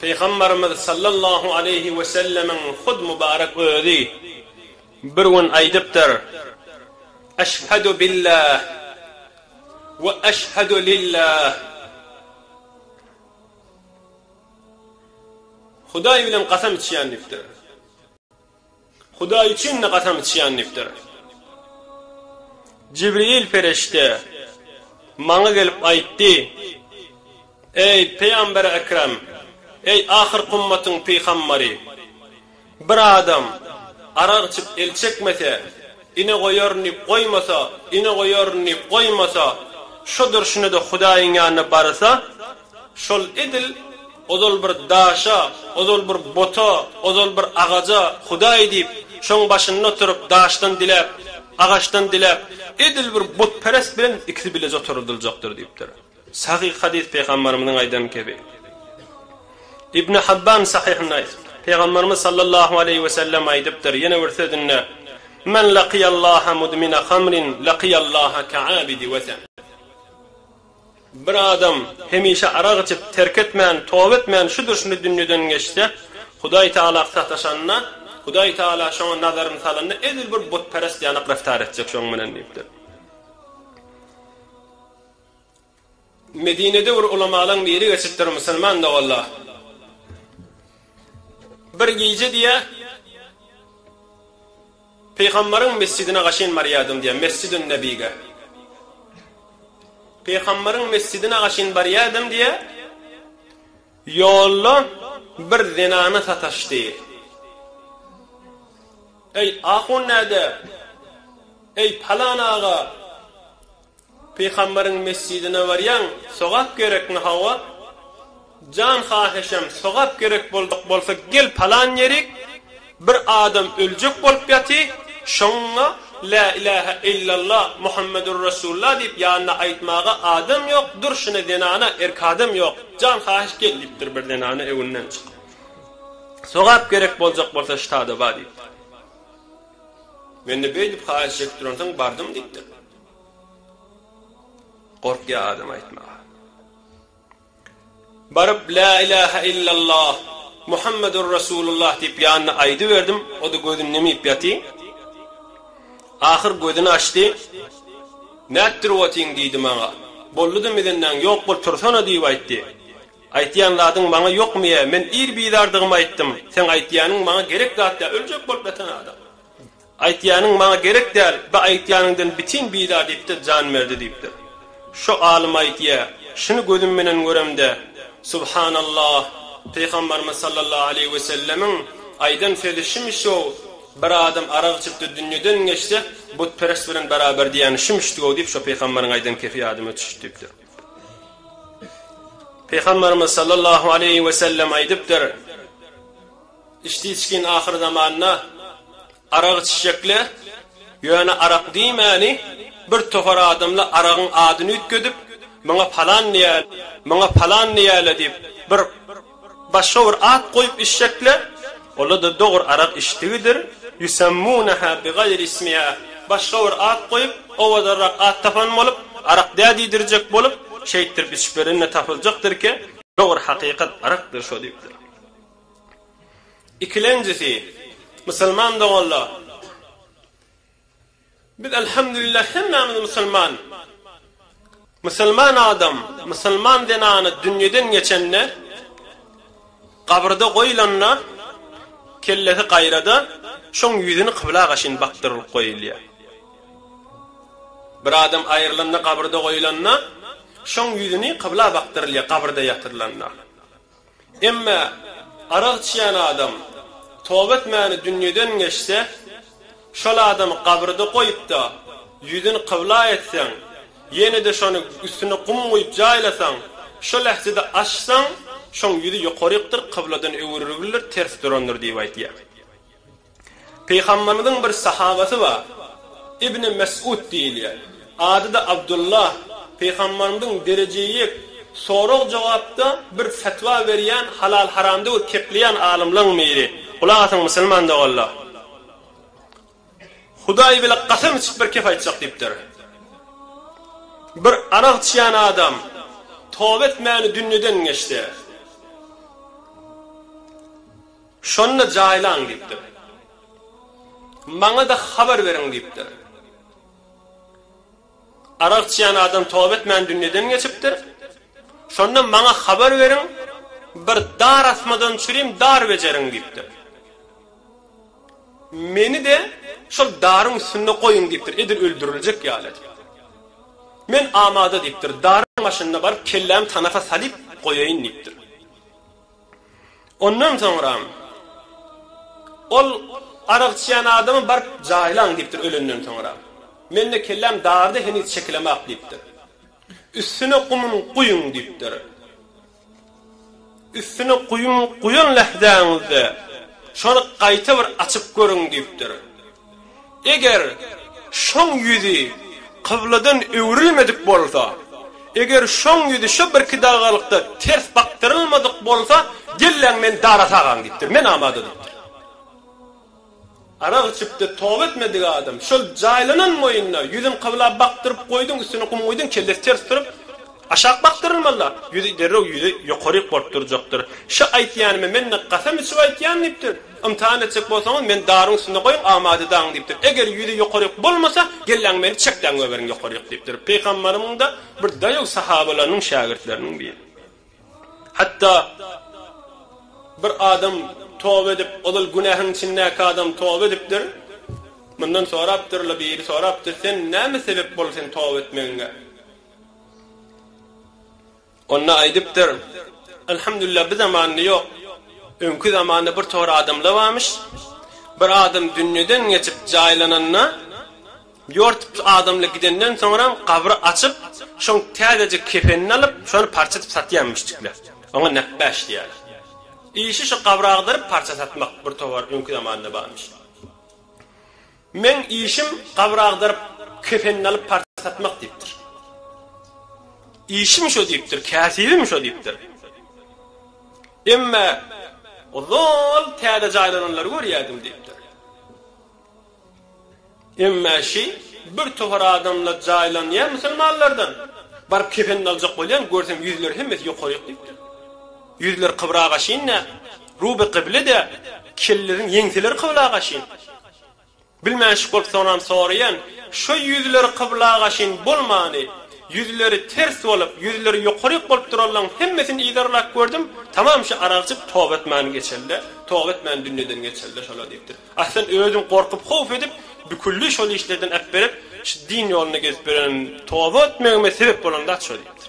Pygambarymyz sallallahu aleýhi wesellemiň hut mübarek özi bir gün aýdypdyr, Eşhadu billah we eşhadu lillah, Hudaý bilen gasam içýän diýipdir. Hudaý üçin-de gasam içýän diýipdir. Jibril perişde maňa gelip aýtdy, Eý, pygamber-i ekrem, eý, ahyrky ümmetin pyhambary! Bir adam arak içip el çekmese, ine goýaryn diýip goýmasa, ine goýaryn diýip goýmasa, şo durşuna-da Hudaýyň ýanyna barsa, Şol edil ozal bir daşa, ozal bir buta, ozal bir agaja Hudaý diýip, şoň başynda oturyp, daşdan diläp, agaçdan diläp, edil bir butperest bilen ikisi bileje oturydyljakdyr diýipdir. Sahyh hadys Pygambarymyzyň aýdan kebi. Ibni Habban Sahyhynda aýdypdyr. Pygambarymyz sallallahu aleýhi we sellem aýdypdyr, ýene bir sözünde, Men lakyýallaha mudmina hamrin lakyýallaha ka'abidi wesen. Bir adam hemişe arak içip, terk etmän, toba etmän şu durşyny dünýeden geçse, Hudaý Tagala sataşanda, Hudaý Tagala şoňa nazaryny salanda edil bir butperest ýaly reftar etjek şoň bilen diýipdir. Medinede bir ulamalaň biri geçipdir, musulman doganlar. Bir gije diýýär, Pygamberiň mesjidine gaşyn barýardym diýýär, Mesjidün Nebige. Pygamberiň mesjidine gaşyn barýardym diýýär, ýolda bir zenana sataşdy. Eý, ahun näde? Eý, palan aga! Pygamberiň mesjidine barýaň, sogap gerekmi, hawa, jan hahyşam, sogap gerek boljak bolsa, gel palan ýerik, bir adam öljek bolup ýaty, şoňa Lä ilähä illalla, Muhammedur resulla diýip ýanyna aýtmaga adam ýok, durşuna zenana, erk adam ýok, jan hahyş gel diýipdir, bir zenana öňünden çykyp, sogap gerek boljak bolsa ştada bar diýipdir. Mende beýdip haýyş çekip duransoň bardym diýipdir. Gorkýar adam aýtmaga. Baryp Lä ilähe illallah, Muhammedur Resulullah diýip ýanyna aýdyberdim, o-da gözüni nimip ýaty. Ahyr gözüni açdy. Nätdirip otyň diýdi maňa. Boldy-da mizindäň ýok bol tursana diýip aýtdy. Aýtýan zadyň maňa ýokmy-ä, men ir bizardygymy aýtdym, seň aýtýanyň maňa gerek zat dä, öljek bolup ýatan adam. Aýtýanyň maňa gerek däl, bu aýtýanyňdan bitin bizar diýip-de jan berdi diýipdir. Şo alym aýtýa, Şuny gözüm bilen göremde, Subhanallah, Pygambarymyz sallallahu aleýhi we sellemiň aýdan sözi şumy-şow, Bir adam arak içipdir, dünýeden geçse, butperest bilen beraber diýýäni şumuşdy-ow diýip, şo pygambaryň aýdan kefi ýadyma düşüpdi diýipdir. Pygambarymyz sallallahu aleýhi we sellem aýdypdyr. Içdi içgin ahyr zamanda arak içjekle, ýöne arak diýmäni bir tohar adamla aragyň adyny üýtgedip, muňa palan niýäle, muňa palan niýäle diýip bir başga bir at goýup içjekle, ola-da dogry arak içdigidir, ýusemmuneha bigaýri ismiha, başga bir at goýup, owadanrak at tapan bolup, arak dä diýdirjek bolup, şeýtdirip içip berende tapyljakdyrki, dogry hakykat arakdyr şo diýipdir. Ikilenjisi, musulman doganlar, biz alhamdulillah hemmämiz musulman. Musulman adam, musulman zenany dünýeden geçende, gabyrda goýlanda, kellesi gaýrada, şoň ýüzüni kybla gaşyn bakdyrylyp goýulýar. Bir adam aýrylanda, gabyrda goýlanda, şoň ýüzüni kybla bakdyrylýar, gabyrda ýatyrylanda. Emma arak içýän adam toba etmäni dünýeden geçse, şol adamy gabrda goýup-da, ýüzüni kybla etseň, ýene-de şony üstüne gum guýup jaýlasaň, şo lähzede açsaň, şoň ýüzi ýokarykdyr, kybladan öwrülibilir, ters durandyr diýip aýtýar. Pygamberimiziň bir sahabasy bar. Ibni Mes'ud diýilýär. Ady-da Abdullah. Pygamberimiziň derejeyik sorag-jogapda bir fetwa berýän, halal-haramdygy kepleýän alymlaň biri. Gulak asyň musulman doganlar. Hudaý bile gasam içip bir kep aýtjak diýipdir. Bir arak içýän adam toba etmäni dünýeden geçdi. Şonda jaýlaň diýipdir. Maňa-da habar beriň diýipdir. Arak içýän adam toba etmän dünýeden geçipdir. Şonda maňa habar beriň, bir dar asmadan çürim dar bejeriň diýipdir. Meni-de şol daryň üstünde goýuň diýipdir, edil öldüriljek ýaly edip. Men amada diýipdir, daryň başynda baryp kellämi tanapa salyp goýaýyn diýipdir. Ondan soňram ol arak içýän adamy baryp jaýlaň diýipdir ölenden soňra. Mende kelläm dardy heniz çekilemok diýipdir. Üstüne gumyn guýuň diýipdir. Üstüne guýum guýan lähzäňizde şony gaýta bir açyp görüň diýipdir. Eger şoň ýüzi kybladan öwrülmedik bolsa, eger şoň ýüzi şo birki dagalykda ters bakdyrylmadyk bolsa, gelläň men dara sagaň diýipdir, men amada diýipdir. Arak içipdi, toba etmedik adam, şol jaýlanan moýunda ýüzün kybla bakdyryp goýduň, üstüne gum guýduň, kellesi ters turup, aşak bakdyrylmaly-la, ýüzi derrew ýüzi ýokaryk bolup durjakdyr. Şo aýtýanymy men-de gasam içip aýtýan diýipdir. Ymtahan etjek bolsaňyz, meni daryň üstünde goýuň, amada dagyň diýipdir. Eger ýüzi ýokaryk bolmasa, gelläň meni çekläň göberiň ýokaryk diýipdir. Pygamberimiň-de bir daýaw sahabalarynyň şägirtleriniň biri. Hatda bir adam toba edip, ozal günähiň içindäki adam toba edipdir. Mundan sorapdyr-la biri sorapdyr, sen näme sebep boldy sen toba etmegiňe? Onda aýdypdyr, Elhamdülillah bu zamanda ýok, öňki zamanda bir togar adamlar barmyş, bir adam dünýeden geçip jaýlananda, ýort adamlar gidenden soňra gabry açyp, şoň täzejik kefenini alyp, şony parça edip satýan müşdikler. Oňa näpbäş diýýärler. Işi şu gabry agdaryp parça satmak bir togar öňki zamanda barmyş. Meň işim gabyr agdaryp, kefenini alyp parça satmak diýipdir. Işim şo diýipdir, käsibim şo diýipdir. Emma ozal täze jaýlananlary görýärdim diýipdir. Emma şi bir tohar adamla jaýlanýan musulmanlardan baryp kefenini aljak bolýan görsem ýüzleri hemmesi ýokaryk diýipdir. Ýüzleri kybra gaşyn dä, ruby kyble dä, kelleleriň ýeňseleri kybla gaşyn. Bilmäşik bolup soňam soraýan, şo ýüzleri kybla gaşyn bolmany, ýüzleri ters bolup, ýüzleri ýokaryk bolup duranlaň hemmesini yzarlap gördüm, tamam şo aragçyk toba etmän geçelide, toba etmän dünýeden geçelide şolar diýipdir. Aslyn özüm gorkup howf edip büküldi şol işlerden äpberip şu din ýolunda gezip ýörenim toba etmegime sebep bolanda şo diýipdir.